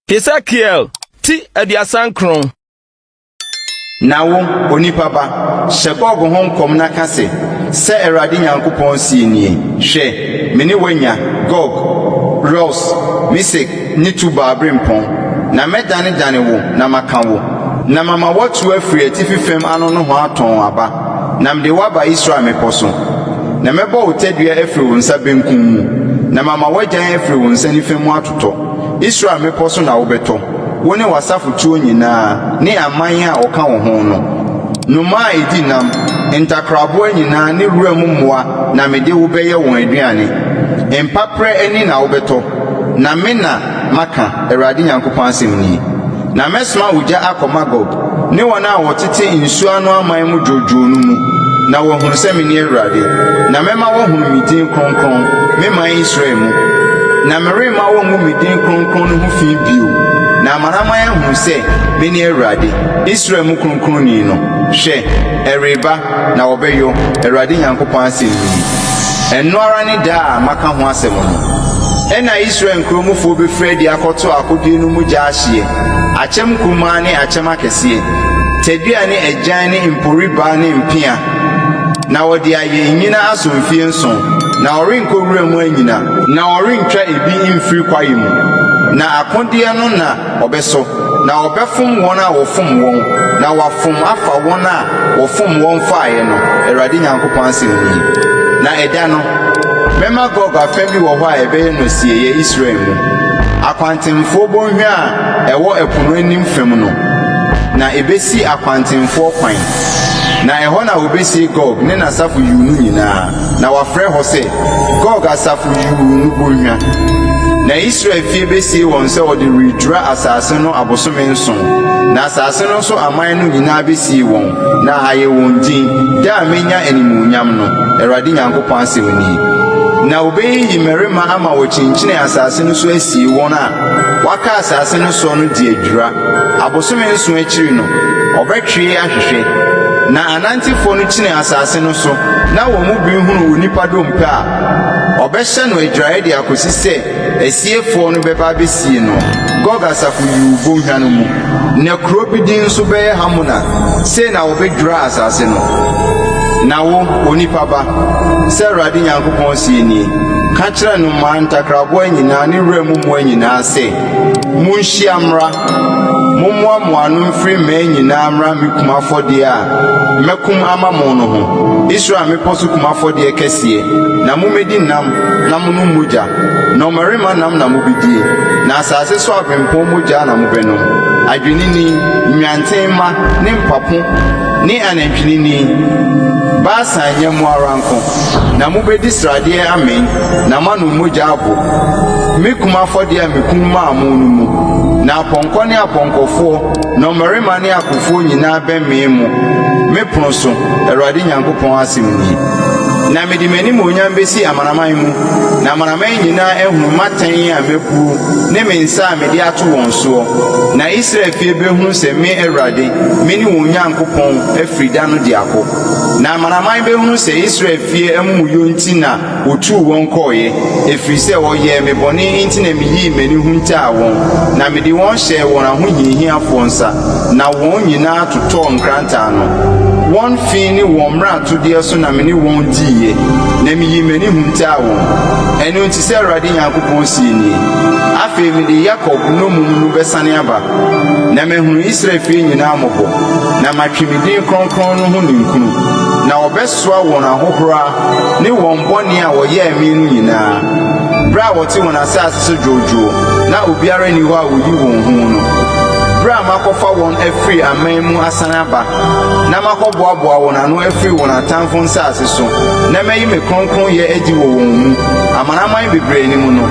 Hesekiel ti aduasa nkron. Na wo, onipa ba, hyɛ Gog ho nkɔm na ka se, 'Sɛ Awurade Nyankopɔn seɛ nie, Hwɛ, me ne woanya, Gog, Rous, Mesek ne Tubal berempɔn, na mɛdanedane wo na maka wo, na mama woatu afiri atifi fam ano nohoa tɔnn aba. Na mede wo aba Israel mmepɔ so, na mɛbɔ wo tadua afiri wo nsa benkum mu, na mama w'agyan afiri wo nsa nifa mu atotɔ. Israel mmepɔ so na wobɛtɔ, wo ne w'asafotuo nyinaa ne aman a wɔka wo ho no. Nnomaa a ɛdi nam, ntakraboa nyinaa ne wuram mmoa na mede wo bɛyɛ wɔn aduane. Mpaperɛ ani na wobɛtɔ, na me na. maka, Awurade Nyankopɔn asɛm nie, 'na mɛsoma ogya akɔ Magog ne wɔn a wɔtete nsuo ano aman mu dwoodwoo no mu, na wɔahunu sɛ mene Awurade. Na mɛma wɔahunu me din kronkron, me man Israel mu, na meremma wɔngu me din kronkron no ho fi bio. Na amanaman ahunu sɛ mene Awurade, Israel mu Kronkronni no. Hwɛ! Ɛreba, na wɔbɛyɔ, Awurade Nyankopɔn asɛm nie. Ɛno ara ne da a maka ho asɛm no. Ɛnna Israel nkuro mufoɔ bɛfiri adi akɔto akodeɛ no mu gya ahyeɛ, akyɛm nkumaa ne akyɛm akɛseɛ, tadua ne agyan ne mporibaa ne mpea, na wɔde ayɛ nnyina aso mfeɛ nson, na wɔrenkɔ wura mu annyina, na wɔrentwa ebi mfiri kwaeɛ mu, na akodeɛ no na. Wɔbɛsɔ, na wɔbɛfom wɔn a wɔfom wɔn, na wɔafom afa wɔn a wɔfom wɔn faeɛ no, Awurade Nyankopɔn asɛm nie. Na ɛda no, mɛma Gog afã bi wɔ hɔ a ɛbɛyɛ nosieeɛ Israel mu, akwantemfoɔ bɔnhwa a ɛwɔ ɛpo no anim fam no, na ɛbɛsi akwantemfoɔ kwan, na ɛhɔ na wɔbɛsie Gog ne n'asafo yuu no nyinaa. Na wɔafrɛ hɔ sɛ Gog Asafo Yuu no Bɔnhwa. Na Israel fie besie wɔn sɛ wɔde redwira asase no abosome nson, na asase no so aman no nyinaa besie wɔn, na ayɛ wɔn din, da a menya animuonyam no, Awurade Nyankopɔn asɛm nie. Na wobeyiyi mmarima ama wɔakyinkyin asase no so asie wɔn a wɔaka asase no soɔ no de adwira. Abosome nson akyiri no, wɔbɛtwee ahwehwɛ, na. Anantefoɔ no kyinii asase no so na wɔn mu bi hunuu onipa dompe a wɔbɛhyɛ no agyiraeɛ de akɔsi sɛ asiefoɔ no bɛba abɛsie no. Gog asafo yuu bɔnhwa no mu. Na kuro bi din nso bɛyɛ Hamona. Sei na wɔbɛdwiraa asase no. Na wo, onipa ba, sɛ Awurade Nyankopɔn seɛ nie, ka kyerɛ nnomaa ntakraboa nyinaa ne wura mu mmoa nyinaa sɛ, Monhyia mmra, mommoa mo ano mfiri mmaa nyinaa mmra me kum afɔdeɛ a mɛkum ama mo no ho, Israel mmepɔ so kum afɔdeɛ kɛseɛ, na mommɛdi nam na monom mogya. Nnɔmmarima nam na mobɛdie, na asase so aberempɔn mogya na mobɛnom, adwennini, nnwanten mma ne mpapo ne anantwinini, Basan nyɛmmoa ara nko, na mobɛdi sradeɛ amee. Na moanom mogya ago, me kum afɔdeɛ a mekum maa mo no mu. Na apɔnkɔ ne apɔnkɔfoɔ, nnɔmmarima ne akofoɔ nyinaa bɛmee mo, me pono so, Awurade Nyankopɔn asɛm nie. Na mede m'animuonyam bɛsi amanaman mu, na amanaman nyinaa ahunu m'atɛn a mabuo ne me nsa a mede ato wɔn soɔ. Na Israel fie bɛhunu sɛ me Awurade, mene wɔn Nyankopɔn afiri da no de ako. Na amanaman bɛhunu sɛ Israel fie amumuyɔ nti na Wotuu wɔn kɔeɛ, ɛfiri sɛ wɔyɛɛ me bɔne enti na meyii m'ani huntaa wɔn, na mede wɔn hyɛɛ wɔn ahohiahiafoɔ nsa, na wɔn nyina ara totɔɔ nkrantaa no. Wɔn fi ne wɔn mmaratodeɛ so na me ne wɔn diiɛ, na meyii m'ani huntaa wɔn. Ɛno nti, sɛ Awurade Nyankopɔn seɛ nie, afei mede Yakob nnommum no bɛsane aba, na mahunu Israel fie nyina ara mmɔbɔ, na matwe me din kronkron no ho ninkunu, na wɔbɛsɔre soa wɔn ahohora ne wɔn bɔne a wɔyɛɛ me no nyinaa, bere a wɔte wɔn asase so dwoodwoo na obiara nni hɔ a oyi wɔn hu no, bere a makɔfa wɔn afiri aman mu asan aba na makɔboaboa wɔn ano afiri wɔn atamfo nsase so na mayi me kronkronyɛ adi wɔ wɔn mu amanaman bebree anim no.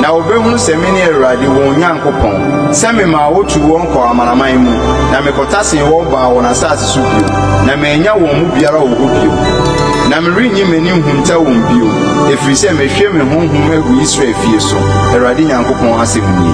Na wɔbɛhunu sɛ mene Awurade wɔn Nyankopɔn, sɛ memaa wɔtuu wɔn kɔɔ amanaman mu na mekɔtasee wɔn baa wɔn asase so. so bio, na manya wɔn mu biara wɔ hɔ bio, na merennye m'ani nhunta wɔn bio, ɛfiri sɛ mahwie me honhom agu Israel fie so, Awurade Nyankopɔn asɛm nie.